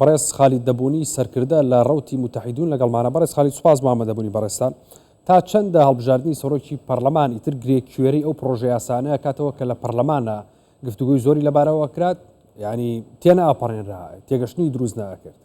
بەڕێز خالید دەبونی سەرکردە لە ڕوتی متحیدون لەگەڵمانە بەڕێز خالید سوپاس بۆ ئامادەبوونی بەڕێزتان تا چەندە هەڵبژاردننی سەرۆکی پەرلەمان ئیتر گرێ کوێری ئەو پرۆژە یاسانەیە کاتەوە کە لە پەرلەمانە گفتوگوی زۆری لەبارەوە کرات ینی تێنە ئاپەڕێنرا تێگەشتنی دروست ناکرد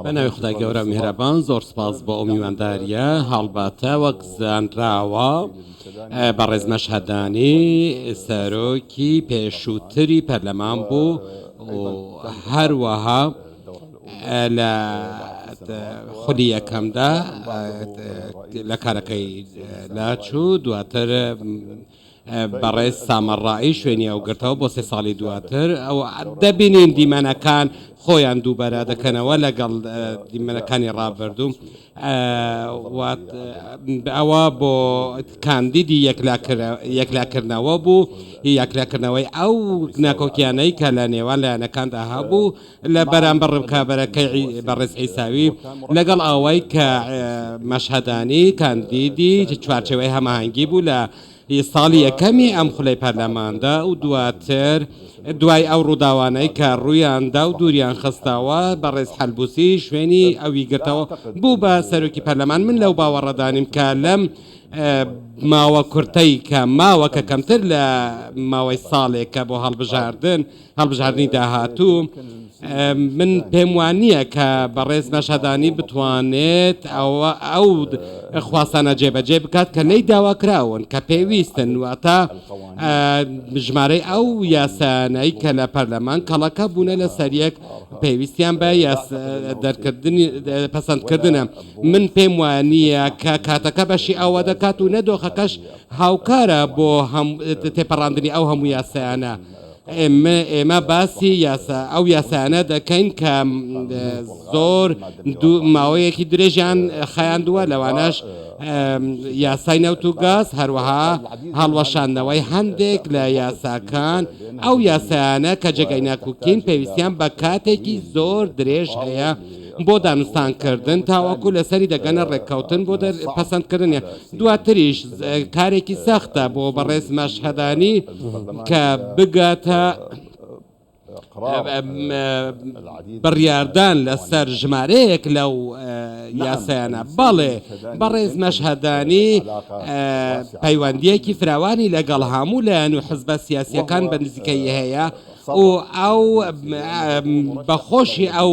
بەناوی خودای گەورە میهرەبان زۆر سپاس بۆ ئەو میوانداریە هەڵبەتە وەک زانراوە بەڕێز مەشهدانی سەرۆکی پێشووتری پەرلەمان بوو هەروەها لە خولی یەکەمدا لە کارەکەی لاچوو دواتر بەڕێز سامەڕائی شوێنی ئەو گرتەوە بۆ سێ ساڵی دواتر و دەبینین دیمەنەکان خۆیان دووبەرە دەکەنەوە لەگەڵ دیمەنەکانی ڕابردوو و ئەوە بۆ کاندیدی یەکلاکردنەوە بوو یەکلاکردنەوەی ئەو ناکۆکیانەی کە لە نێوان لایەنەکاندا هەبوو. لە بەرامبەر ڕکابەرەکەی بەڕێز عیساوی لەگەڵ ئەوەی کە مەشهەدانی کاندیدی چوارچێوەی هەماهەنگی بوو لە ساڵی یەکەمی ئەم خولەی پەرلەماندا و دواتر دوای ئەو ڕووداوانەی کە ڕوویاندا و دووریان خستەوە بەڕێز حەلبوسی شوێنی ئەوی گرتەوە بوو بە سەرۆکی پەرلەمان من لەو باوەڕەدانیم کە لەم ماوە کورتەی کە ماوە کە کەمتر لە ماوەی ساڵێکە بۆ هەڵبژاردن هەڵبژاردنی داهاتوو من پێم وانییە کە بەڕێز نەشادانی بتوانێت ئەوە ئەو خواستانە جێبەجێ بکات کە لی داواکراون کە پێویستن واتە ژمارەی ئەو یاسانایی کە لە پەرلەمان کەڵەکە بوونە لە سەریەک پێویستیان بە دەرکردنی پەسەندکردنە من پێم وانییە کە کاتەکە بەشی ئەوە دەکات و نەدۆخەکەش هاوکارە بۆ تێپەڕاندنی ئەو هەموو یاسایانە. ئێمە باسی یاسا ئەو یاسایانە دەکەین کە زۆر ماوەیەکی درێژیان خایاندووە لەوانەش یاسای نەوت و گاز هەروەها هەڵوەشاندنەوەی هەندێک لە یاساکان ئەو یاسایانە کە جێگەی ناکوکین پێویستیان بە کاتێکی زۆر درێژ هەیە بۆ دانوستان کردن تاوەکو لەسەری دەگەنە ڕێککەوتن بۆ پەسەند کردنی دواتریش کارێکی سەختە بۆ بەڕێز مەشهدانی کە بگاتە بڕیاردان لەسەر ژمارەیەک لەو یاسایانە بەڵێ بەڕێز مەشهدانی پەیوەندیەکی فراوانی لەگەڵ هەموو لایەن و حزبە سیاسیەکان بە نزیکەی هەیە و ئەو بە خۆشی ئەو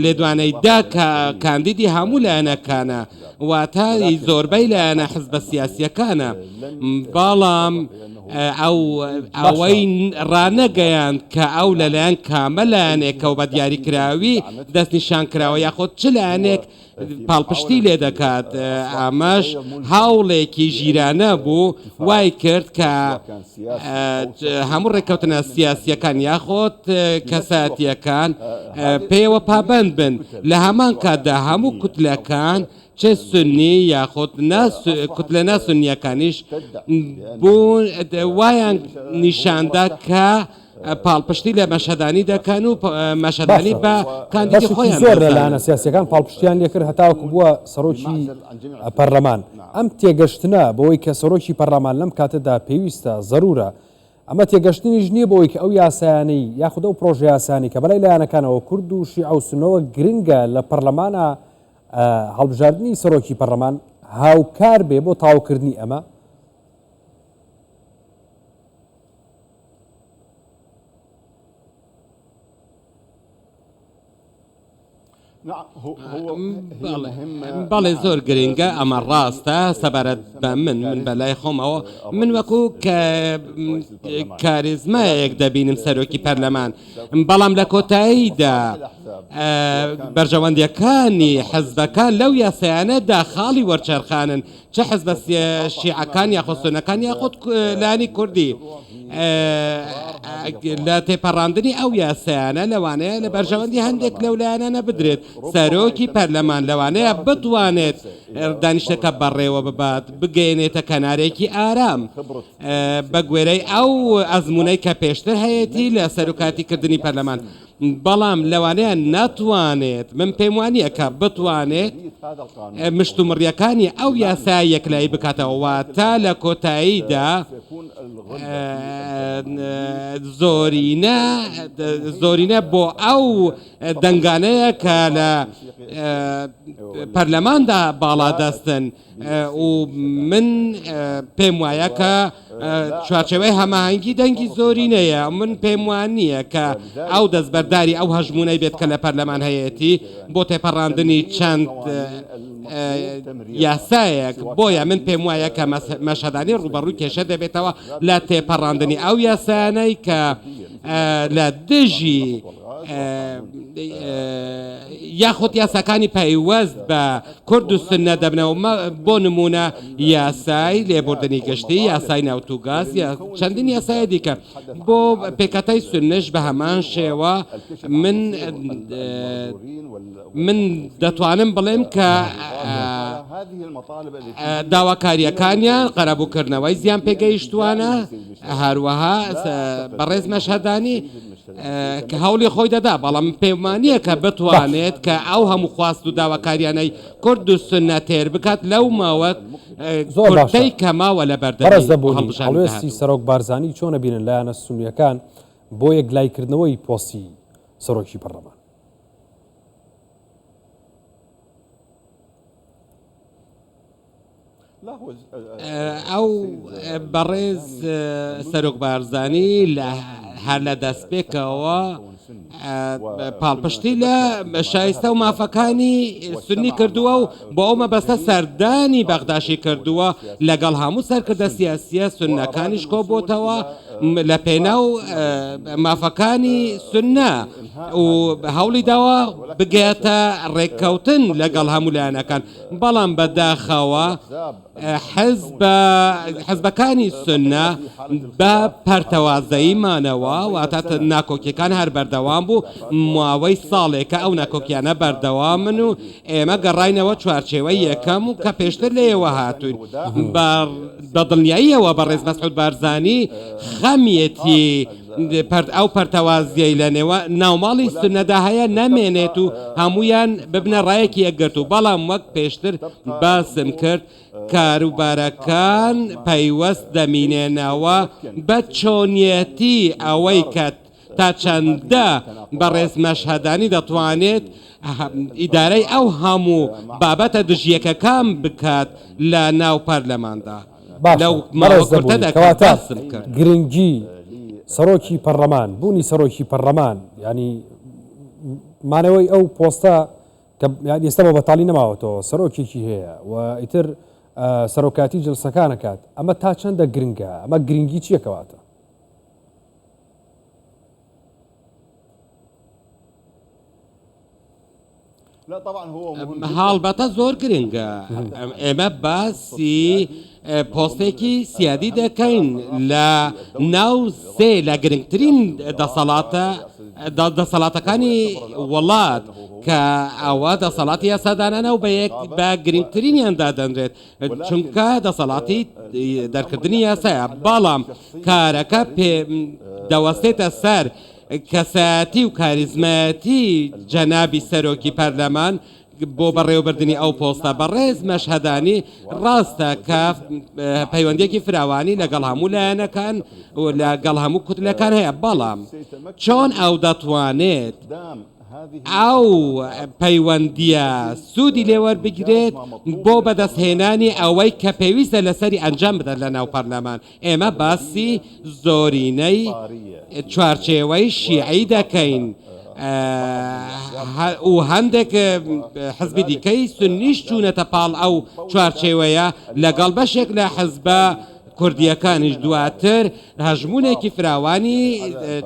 لێدوانەی دا کە کاندیدی هەموو لایەنەکانە واتە زۆربەی لایەنە حزبە سیاسیەکانە بەڵام ئەو ئەوەی ڕانەگەیاند کە ئەو لەلایەن کامە لایەنێکەوە بە دیاریکراوی دەستنیشان کراوە یاخۆد چ لایەنێک پاڵپشتی لێ دەکات، ئەمەش هەوڵێکی ژیرانە بوو وای کرد کە هەموو ڕێککەوتنە سیاسییەکان یاخود کەسایەتییەکان پێیەوە پابەند بن، لە هەمان کاتدا هەموو کوتلەکان چ سوننی یاخود نا کوتلە نا سوننییەکانیش بوون وایان نیشاندا کە پاڵپشتی لە مەشهدانی دەکەن و مەشهدانی بە کاندیدی خۆیان زۆر لەلایەنە سیاسەکان پاڵپشتیان لێکرد هەتاوەکو بووە سەرۆکی پەرلەمان ئەم تێگەشتنە بەوەی کە سەرۆکی پەرلەمان لەم کاتەدا پێویستە زەرورە ئەمە تێگەشتنیش نییە بۆی کە ئەو یاسایانەی یاخود ئەو پرۆژیاسانی کە بەلای لایەنەکانەوە کورد و شیع و سنەوە گرنگە لە پەرلەمانە هەڵبژاردننی سەرۆکی پەرلەمان هاوکار بێ بۆ تاوکردنی ئەمە بەڵێ زۆر گرنگە ئەمە ڕاستە سەبارەت بە من من بە لای خۆمەوە من وەکو کە کاریزمایەک دەبینم سەرۆکی پەرلەمان بەڵام لە کۆتاییدا بەرژەوەندیەکانی حەزبەکان لەو یاسایانەدا خاڵی وەرچەرخانن چ حزبە شیعەکان یاخود سونەکان یاخود لایەنی کوردی لە تێپەڕاندنی ئەو یاسایانە لەوانەیە لە بەرژەوەندی هەندێک لەو لایەنانە بدرێت سەرۆکی پەرلەمان لەوانەیە بتوانێت دانیشتەکە بەڕێوە ببات بگەێنێتە کەنارێکی ئارام بە گوێرەی ئەو ئەزمونەی کە پێشتر هەیەی لە سەرکاتیکردنی پەرلەمان بەڵام لەوانەیە نەتوانێت، من پێم وا نییە کە بتوانێت مشتومڕییەکانی ئەو یاسایە یەکلایی بکاتەوە، واتە لە کۆتاییدا زۆرینە زۆرینە بۆ ئەو دەنگانەیە کە لە پەرلەماندا باڵادەستن. و من پێم وایە کە چوارچەوەی هەماهەنگی دەنگی زۆری نەیە من پێم وان نییە کە ئەو دەستبەرداری ئەو هەژمونەی بێت کە لە پەرلەمان هەیەتی بۆ تێپەڕاندنی چەند یاسایەک بۆیە من پێم وایە کە مەشهدانی ڕوبەڕووی کێشە دەبێتەوە لە تێپەڕاندنی ئەو یاسانەی کە لە دژی یاخود یاساکانی پەیوەست بە کورد و سوننە دەبنەوە مە بۆ نموونە یاسای لێبوردنی گشتی یاسای نەوت و گاز یا چەندین یاسای دیکە بۆ پێکەتای سوننەش بە هەمان شێوە من من دەتوانم بڵێم کە داواکاریەکانیان قەرەبووکردنەوەی زیان پێگەیشتوانە هەروەها بەڕێز مەشهەدانی کە هەوڵی خۆی دەدا، بەڵام پێموانییە کە بتوانێت کە ئەو هەموو خواست و داواکارییانەی کورد و سوننە تێر بکات لەو ماوە کورتەی کە ماوە لە بەردەمی هەڵبژاردندا. زۆر باشە. هەڵوێستی سەرۆک بارزانی چۆن ئەبینن لایەنە سوننییەکان بۆ یەکلاییکردنەوەی پۆستی سەرۆکی پەرلەمان؟ ئەو بەڕێز سەرۆک بارزانی لە هەر لە دەستپێکەوە پاڵپشتی لە شایستە و مافەکانی سنی کردووە و بۆ ئەو مەبەستە سەردانی بەغداشی کردووە لەگەڵ هەموو سەرکردە سیاسیە سوننەکانیش کۆبۆتەوە لە پێناو مافەکانی سنە و هەوڵی داوە بگاتە ڕێککەوتن لەگەڵ هەموو لایەنەکان بەڵام بەداخەوە حزبەکانی سنە بە پەرتەوازەیی مانەوە واتە ناکۆکیەکان هەر بەردەوام بوو ماوەی ساڵێکە ئەو ناکۆکیانە بەردەوامن و ئێمە گەڕینەوە چوارچێوە یەکەم و کە پێشتر لێەوە هاتوین بە دڵنیاییەوە بە ڕێز مەسعود بارزانانی خەمیەتی پەرت ئەو پەرتەوازیەی لە نێوا ناوماڵی سونەدا هەیە نەمێنێت و هەموویان ببنە ڕایەکی یەکگرتوو، بەڵام وەک پێشتر باسم کرد کاروبارەکان پەیوەست دەمینێنەوە بە چۆنیەتی ئەوەی کە تا چەندە بەڕێز مەشهەدانی دەتوانێت ئیدارەی ئەو هەموو بابەتە دژیەکەکان بکات لە ناو پەرلەماندا. باشە بەڕێز دەبوونی کەواتە گرنگی سەرۆکی پەرلەمان بوونی سەرۆکی پەرلەمان ینی مانەوەی ئەو پۆستە کە ئێستا بە بەتاڵی نەماوەتەوە سەرۆکێکی هەیە و ئیتر سەرۆکاتی جلسەکانەکات ئەمە تا چەندە گرنگە ئەمە گرنگی چیەکەواتە هەڵبەتە زۆر گرنگە ئێمە باسی پۆستێکی سیادی دەکەین لە ناو سێ لە گرنگترین دەسەڵاتە دەسەڵاتەکانی وڵات کە ئەوە دەسەڵاتی یاسادانانە و بە گرنگترینیان دادەنرێت چونکە دەسەڵاتی دەرکردنی یاسایە بەڵام کارەکە پێ دەوەستێتە سەر کەسایەتی و کاریزمایەتی جەنابی سەرۆکی پەرلەمان بۆ بەڕێوەبردنی ئەو پۆستە، بەڕێز مەشهەدانی ڕاستە کە پەیوەندیەکی فراوانی لەگەڵ هەموو لایەنەکان و لە گەڵ هەموو کوتلەکان هەیە، بەڵام چۆن ئەو دەتوانێت ئەو پەیوەندیە سوودی لێ وەربگرێت بۆ بەدەست هێنانی ئەوەی کە پێویستە لەسەری ئەنجام بدات لەناو پەرلەمان ئێمە باسی زۆرینەی چوارچێوەی شیعی دەکەین و هەندێک حزبی دیکەی سنیش چوونەتە پاڵ ئەو چوارچێوەیە لەگەڵ بەشێک لە حزبە کوردیەکانیش دواتر هەژمونێکی فراوانی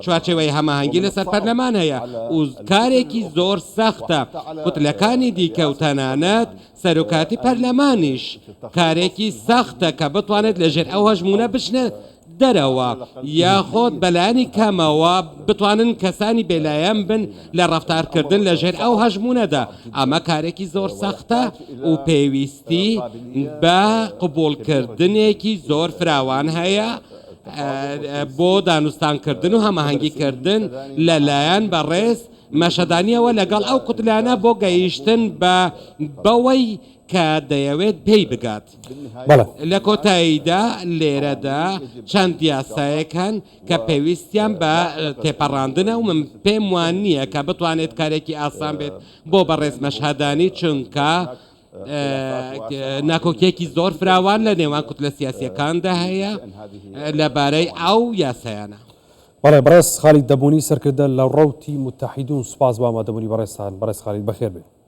چوارچەوەی هەماهەنگی لەسەر پەرلەمان هەیە و کارێکی زۆر سەختە کوتلەکانی دیکە و تەنانەت سەرۆکایەتی پەرلەمانیش کارێکی سەختە کە بتوانێت لەژێر ئەو هەژموونە بچنێت دەرەوە، یاخود بەلایەنی کەمەوە بتوانن کەسانی بێلایەن بن لە ڕەفتارکردن لەژێر ئەو هەژموونەدا، ئەمە کارێکی زۆر سەختە و پێویستی بە قبوڵکردنێکی زۆر فراوان هەیە بۆ دانوستانکردن و هەماهەنگیکردن لەلایەن بەڕێز مەشەدانییەوە لەگەڵ ئەو قوتلانە بۆ گەیشتن بە بەوەی کە دەیەوێت پێی بگات. لە کۆتاییدا لێرەدا چەند یاسایەک هەن کە پێویستیان بە تێپەڕاندنە و من پێم وا نییە کە بتوانێت کارێکی ئاسان بێت بۆ بەڕێز مەشهەدانی چونکە ناکۆکییەکی زۆر فراوان لە نێوان کوتلە سیاسییەکاندا هەیە لەبارەی ئەو یاسایانە. بەڵێ بەڕێز خالید دەبونی سەرکردە لە ڕەوتی موتەحیدون سوپاس بۆ ئامادەبونی بەڕێزتان بەڕێز خالید بەخێربێن.